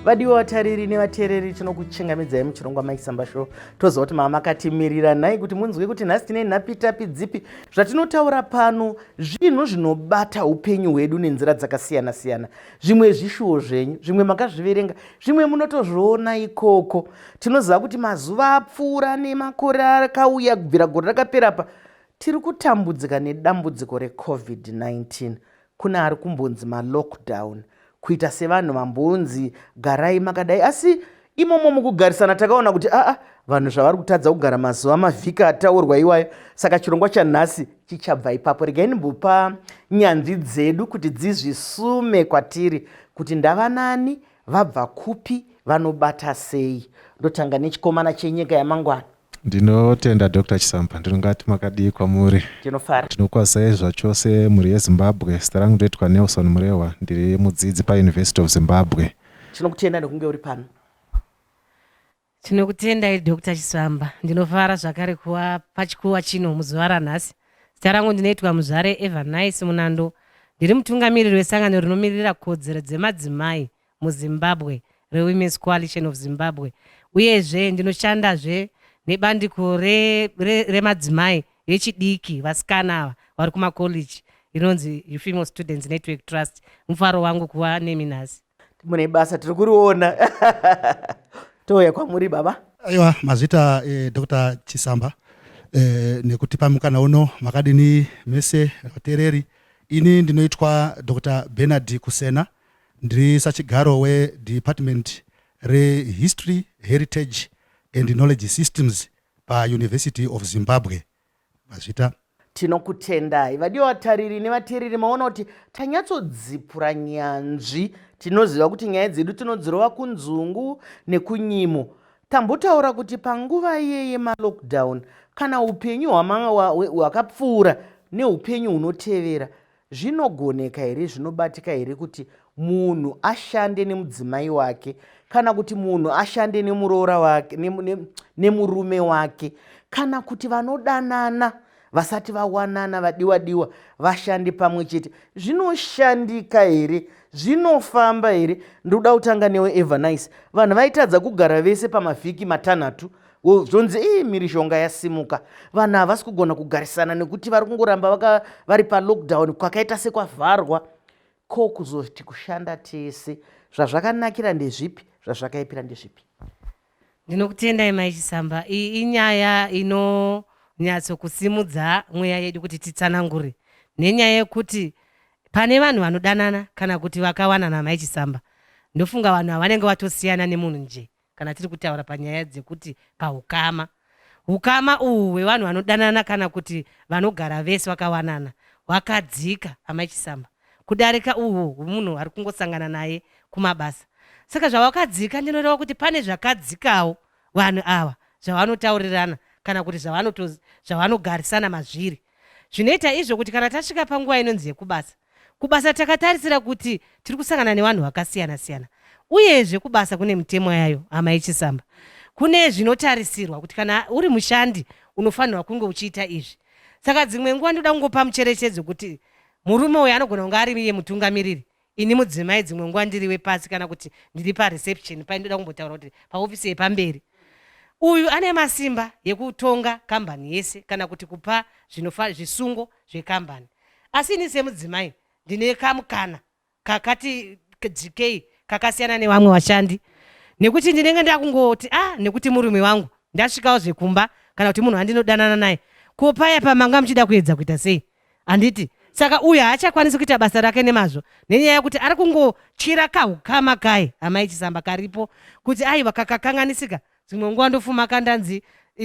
vadiwa vatariri nevateereri tinokuchengamidzai muchirongwa maisamba show toziva kuti mava makatimirira nhai kuti munzwe kuti nhasi tine nhapitapi dzipi zvatinotaura pano zvinhu zvinobata upenyu hwedu nenzira dzakasiyana siyana zvimwe zvishuwo zvenyu zvimwe makazviverenga zvimwe munotozviona ikoko tinoziva kuti mazuva apfuura nemakore akauya kubvira gore rakaperapa Tiri kutambudzika nedambudziko reCovid-19 kune ari kumbonzi malockdown kuita sevanhu vambonzi garai makadai asi imomo mukugarisana takaona kuti aa vanhu zvavari kutadza kugara mazuva mavhiki ataurwa iwayo saka chirongwa chanhasi chichabva ipapo regai ndimbopa nyanzvi dzedu kuti dzizvisume kwatiri kuti ndavanani vabva kupi vanobata sei ndotanga nechikomana chenyika yamangwana Ndinotenda Doctor Chisampa ndinongati makadii kwamuri. Tinofara. Tinokwazisai zvachose mhuri yeZimbabwe zita rangu ndoitwa Nelson Murehwa ndiri mudzidzi pa University of Zimbabwe. Tinokutenda nekunge uri pano. Tinokutendai Doctor Chisamba. Ndinofara zvakare kuva pachikuwa chino muzuva ranhasi. Zita rangu ndinoitwa Muzvare Evernice Munando. Ndiri mutungamiriri wesangano rinomiririra kodzero dzemadzimai muZimbabwe reWomen's Coalition of Zimbabwe uyezve ndinoshandazve nebandiko remadzimai re, re vechidiki vasikana ava vari kumakollege rinonzi Female Students Network Trust. Mufaro wangu kuva nemi nhasi. Mune basa tiri kuriona touya kwamuri baba. Aiwa mazvita eh, Dr Chisamba eh, nekutipa mukana uno makadini mese vateereri. Ini ndinoitwa Dr Bernard Kusena. Eh, Ndiri sachigaro weDepartment reHistory, Heritage and Knowledge Systems paUniversity of Zimbabwe, VaZvita. Tinokutendai vadiwa vatariri nevateereri maona kuti tanyatsodzipura nyanzvi. Tinoziva kuti nyaya dzedu tinodzirova kunzungu nekunyimo. Tambotaura kuti panguva iye yemalockdown kana upenyu hwakapfuura neupenyu hunotevera Zvinogoneka here, zvinobatika here kuti munhu ashande nemudzimai wake kana kuti munhu ashande nemuroora wake nemurume wake kana kuti vanodanana vasati vawanana vadiwa diwa vashande pamwe chete zvinoshandika here zvinofamba here ndoda kutanga newe evanice vanhu vaitadza kugara vese pamavhiki matanhatu zvonzi ii mirishonga yasimuka vanhu havasi kugona kugarisana nekuti vari kungoramba vari palockdown kwakaita sekwavharwa ko kuzoti kushanda tese zvazvakanakira ndezvipi zvazvakaipira ndezvipi ndinokutendai mai chisamba iyi inyaya inonyatsokusimudza mweya yedu kuti titsanangure nenyaya yekuti pane vanhu vanodanana kana kuti vakawanana mai chisamba ndofunga vanhu havanenge vatosiyana nemunhu njee kana tiri kutaura panyaya dzekuti paukama ukama uhwu hwevanhu vanodanana kana kuti vanogara vese vakawanana hwakadzika amachisamba kudarika uhwo hwemunhu ari kungosangana naye kumabasa saka zvawakadzika ndinoreva kuti pane zvakadzikawo vanhu ava zvavanotaurirana kana kuti zvavanogarisana mazviri zvinoita izvo kuti kana tasvika panguva inonzi yekubasa Kubasa takatarisira kuti tiri kusangana nevanhu vakasiyana siyana, uyezve kubasa kune mitemo yayo. Hama yechisamba, kune zvinotarisirwa kuti kana uri mushandi unofanirwa kunge uchiita izvi. Saka dzimwe nguva ndoda kungopa mucherechedzo kuti murume uyo anogona kunge ari iye mutungamiriri, ini mudzimai, dzimwe nguva ndiri wepasi kana kuti ndiri pareception paye. Ndoda kumbotaura kuti paofisi yepamberi uyu ane masimba yekutonga kambani yese kana kuti kupa zvinofa zvisungo zvekambani. asi ini semudzimai ndine kamukana kakati dzikei kakasiyana nevamwe vashandi nekuti ndinenge ndakungoti ah nekuti murume wangu ndasvikawo zvekumba kana kuti munhu andinodanana naye ko paya pamanga muchida kuedza kuita sei handiti saka uyu haachakwanisi kuita basa rake nemazvo nenyaya yekuti ari kungotyira kahukama kaye amai chisamba karipo kuti aiwa kakakanganisika ka dzimwe nguva ndofuma ka ndanzi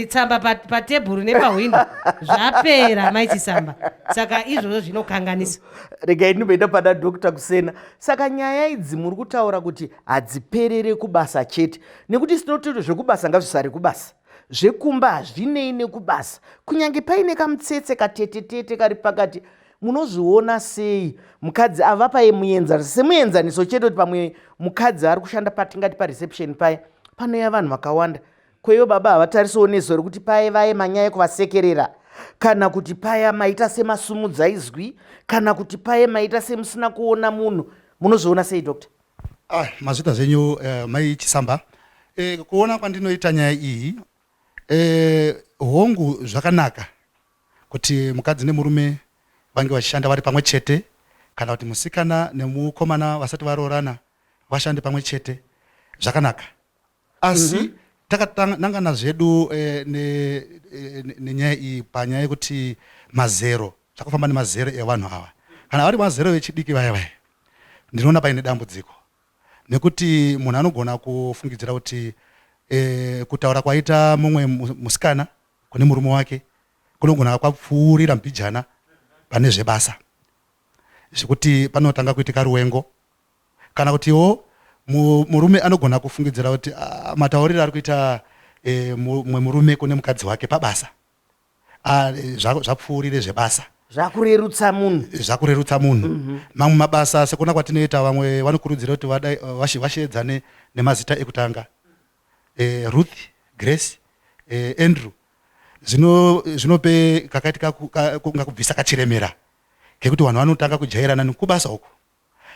tsamba patebhuru nepahwindo zvapera mai chisamba saka izvozvo zvinokanganisa regai ndimboenda pana dokta kusena saka nyaya idzi muri kutaura kuti hadziperere kubasa chete nekuti sinotoita zvekubasa ngazvisari kubasa zvekumba hazvinei nekubasa kunyange paine kamutsetse katetetete kari pakati munozviona sei mukadzi ava paye muenzaniso semuenzaniso chete kuti pamwe mukadzi ari kushanda patingati pareception paye panoya vanhu vakawanda kweivo baba havatarisawo nezuva rekuti paye vaye manyaya kuvasekerera kana kuti paya maita semasumudza izwi kana kuti paye maita semusina kuona munhu munozviona sei doctor ah, mazvita zvenyu eh, mai chisamba eh, kuona kwandinoita nyaya iyi eh, hongu zvakanaka kuti mukadzi nemurume vange vachishanda vari pamwe chete kana kuti musikana nemukomana vasati varoorana vashande pamwe chete zvakanaka asi mm -hmm takatanangana zvedu eh, eh, nenyaya ne, ne iyi panyaya yekuti mazero takufamba nemazero evanhu ava kana vari mazero vechidiki vaya vaya ndinoona paine dambudziko nekuti munhu anogona kufungidzira kuti eh, kutaura kwaita mumwe musikana kune murume wake kunogona kwapfuurira mbijana pane zvebasa zvekuti panotanga kuitika ruwengo kana kutiwo murume anogona kufungidzira kuti ah, matauriro ari kuita eh, mumwe murume kune mukadzi wake pabasa ah, eh, zvapfuurire zvebasa zvakurerutsa munhu zvakurerutsa munhu mhm. mamwe mabasa sekuna kwatinoita vamwe vanokurudzira kuti vasheedzane nemazita ekutanga eh, Ruth, Grace, eh, Andrew zvino zvinope kakati kunga kubvisa kachiremera kekuti vanhu vanotanga kujairana nekubasa uku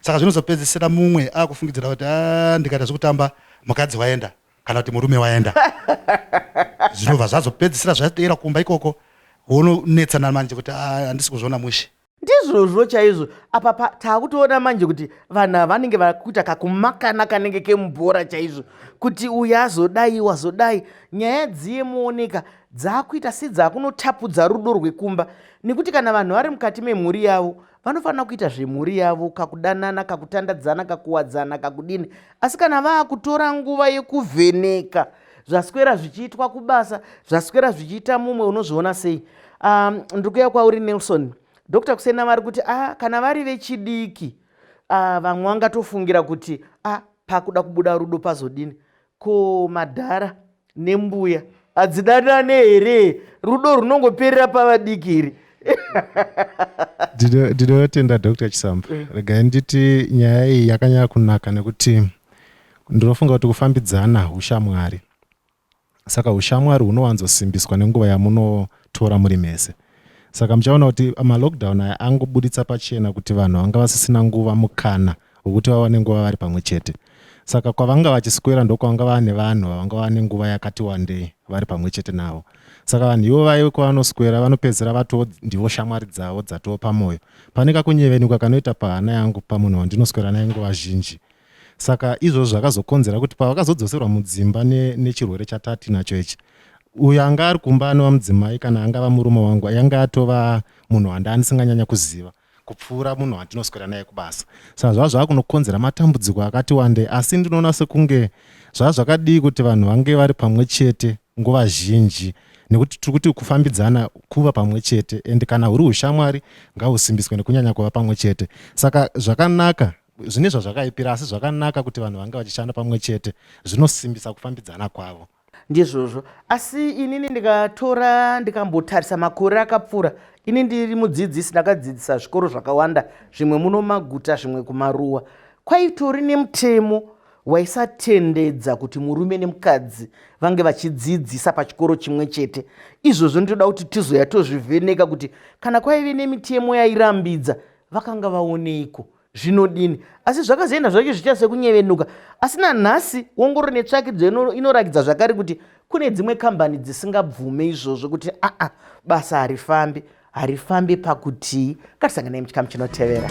saka zvinozopedzisira mumwe akufungidzira kuti ah, ndikaita zvekutamba mukadzi waenda kana kuti murume waenda zvinobva zvazopedzisira zvateera kumba ikoko wononetsana manje kuti ah, handisi kuzviona mushe ndizvozvo chaizvo apa pa taakutoona manje kuti vanhu ava vanenge vakuita kakumakana kanenge kemubhora chaizvo kuti uyu azodai wazodai nyaya dziye muoneka dzaakuita sedzaakunotapudza rudo rwekumba nekuti kana vanhu vari mukati memhuri yavo vanofanira kuita zvemhuri yavo kakudanana kakutandadzana kakuwadzana kakudini asi kana vaakutora nguva yekuvheneka ka zvaswera zvichiitwa kubasa zvaswera zvichiita mumwe unozviona sei um, ndiri kuya kwauri nelson dr kusena vari kuti ah, kana vari vechidiki ah, vamwe uh, vangatofungira kuti ah, pakuda kubuda rudo pazodini ko madhara nembuya hadzidanane here rudo runongoperera pavadiki iri ndinotenda dr chisamba eh. regai nditi nyaya iyi yakanyaya kunaka nekuti Ndinofunga kuti kufambidzana hushamwari. Saka hushamwari hunowanzosimbiswa nenguva yamunotora muri mese. Saka muchaona kuti malockdown aya angobuditsa pachena kuti vanhu vanga vasisina nguva mukana wekuti vawane nguva vari pamwe chete. Saka kwavanga vachiswera ndokwavanga vane vanhu vavanga vane nguva yakati wandei vari pamwe chete navo. Saka vanhu ivo vaive kwavanoswera vanopedzera vatoo ndivo shamwari dzavo dzatoo pamwoyo. Pane kakunyevenuka kanoita pahana yangu pamunhu wandinoswera naye nguva zhinji. saka izvozvo zvakazokonzera kuti pavakazodzoserwa mudzimba ne, nechirwere chatatinacho ichi uyo anga ari kumba anova mudzimai kana angava murume wangu yange atova munhu wanda andisinganyanya kuziva kupfuura munhu wandinoswera naye kubasa saka zvava zvava kunokonzera matambudziko akati wandei asi ndinoona sekunge zvava zvakadii kuti vanhu vange vari pamwe chete nguva zhinji nekuti tiri kuti kufambidzana kuva pamwe chete and kana huri ushamwari ngahusimbiswe nekunyanya kuva pamwe chete saka zvakanaka Zvine zvazvakaipira, asi zvakanaka kuti vanhu vange vachishanda pamwe chete, zvinosimbisa kufambidzana kwavo. Ndizvozvo. Asi inini ndikatora, ndikambotarisa makore akapfuura, ini ndiri mudzidzisi, ndakadzidzisa zvikoro zvakawanda, zvimwe muno mumaguta, zvimwe kumaruwa. Kwaitori nemutemo waisatendedza kuti murume nemukadzi vange vachidzidzisa pachikoro chimwe chete. Izvozvo ndinoda kuti tizoya tozvivheneka kuti kana kwaive nemitemo yairambidza vakanga vaoneiko zvinodini asi zvakazoenda zvacho zvichita sekunyevenuka asi nanhasi wongororo netsvakidzo inorakidza zvakare kuti kune dzimwe kambani dzisingabvume izvozvo kuti aa basa harifambi harifambi pakutii ngatisanganai muchikamu chinotevera